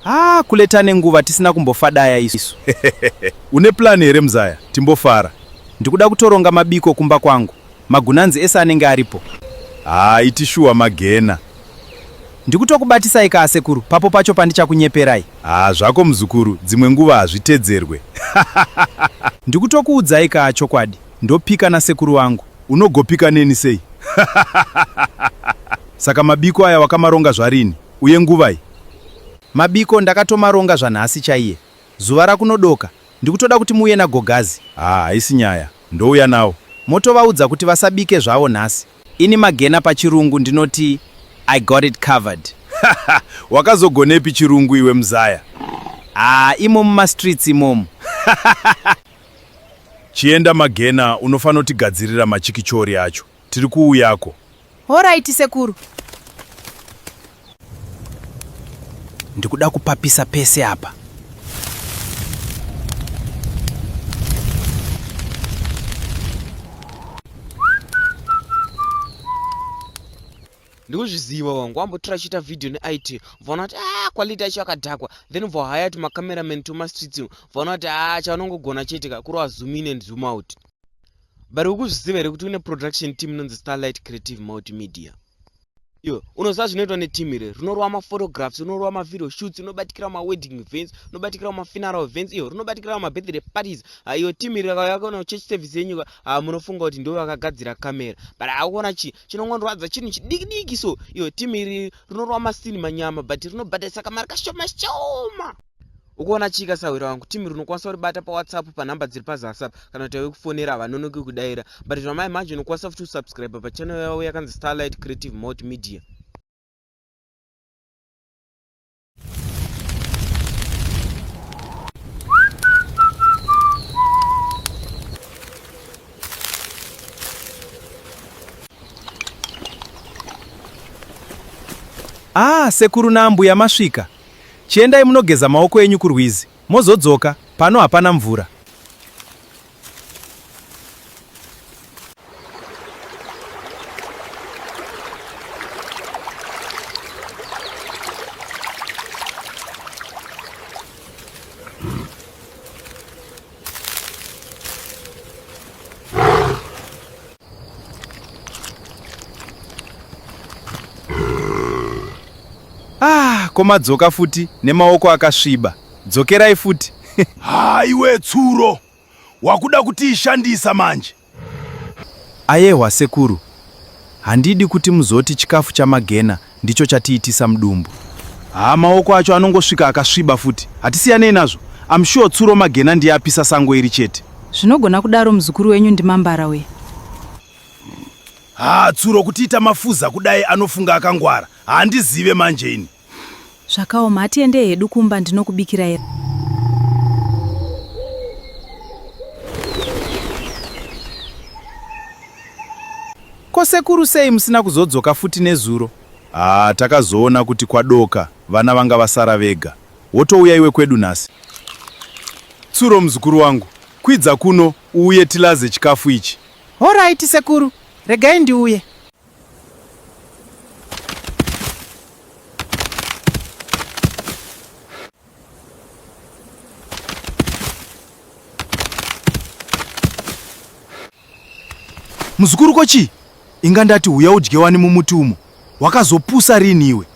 Ah, kule tane nguva tisina kumbofadaya isu. Une plan here mzaya? Timbofara. Ndikuda kutoronga mabiko kumba kwangu. Magunanzi ese anenge aripo. Ah, iti shuwa magena. Ndikutokubatisai ka asekuru, papo pacho pandichakunyeperai. Ah, zvako muzukuru, dzimwe nguva hazvitedzerwe. Ndikutokuudzai ka chokwadi, ndopika nasekuru wangu. Unogopika neni sei? Saka mabiko aya wakamaronga zvarini? Uye nguvai? Mabiko ndakatomaronga zvanhasi chaiye. Zuva rakunodoka. Ndikutoda kuti muuye naGogazi. Haa haisi nyaya. Ndouya nawo. Motovaudza kuti vasabike zvavo nhasi. Ini Magena pachirungu ndinoti I got it covered. Haha wakazogonepi chirungu iwe mzaya? Haa imo mumastreets imomu. Hahahaha. Chienda Magena unofanotigadzirira machikichori acho. Tiri kuuyako. Horaiti sekuru. Ndikuda kupapisa pese apa. ndikuzviziva wangu wambotora chiita vhidhiyo neit vaona kuti a ah, quality acho akadhakwa then vohaya ti macameraman tomastreets vaona kuti a ah, chaanongogona chete ka kuri wazoom in and zoom out but ukuzviziva here kuti une production team inonzi starlight creative multimedia iwe unoziva zvinoitwa neteam iri rinorova maphotographs rinorova mavideo shoots rinobatikirawo mawedding events rinobatikirawo mafuneral events iyo rinobatikirawo mabirthday parties ah, iyo team iri yakona church service yenyuka ah, munofunga kuti ndivo vakagadzira camera but akuona chii chinongondorwadza chinhu chidikidiki so iyo team iri rinorova masini manyama but rinobatarisa kamari kashoma shoma ukaona chika sahwira wangu team rinokwanisa kuribata pawhatsapp panhamba dziri pazasi apa kana kuti vekufonera havanonoki kudaira but zvamai manje unokwanisa futi kusubscribe pachannel yavo yakanzi starlight creative mot media Ah, sekuru naambuya masvika. Chiendai munogeza maoko enyu kurwizi, mozodzoka, pano hapana mvura. Ah, komadzoka futi nemaoko akasviba. Dzokerai futi. Haiwe tsuro. Wakuda kutiishandisa manje. Ayehwa sekuru, handidi kuti muzoti chikafu chamagena ndicho chatiitisa mudumbu. Haa maoko acho anongosvika akasviba futi. Hatisiyanei nazvo. I'm sure tsuro magena ndiye apisa sango iri chete. Zvinogona kudaro muzukuru wenyu ndimambara uye. Haa tsuro kutiita mafuza kudai anofunga akangwara. Handizive manje ini. Zvakaoma, hatiende hedu kumba ndinokubikira here? Ko sekuru sei musina kuzodzoka futi nezuro? Ah, takazoona kuti kwadoka, vana vanga vasara vega. Wotouya iwe kwedu nhasi? Tsuro muzukuru wangu, kwidza kuno uuye tilaze chikafu ichi. Horaiti sekuru, regai ndiuye. muzukuru ko chii inga ndati huya udye wani mumuti umo wakazopusa rini iwe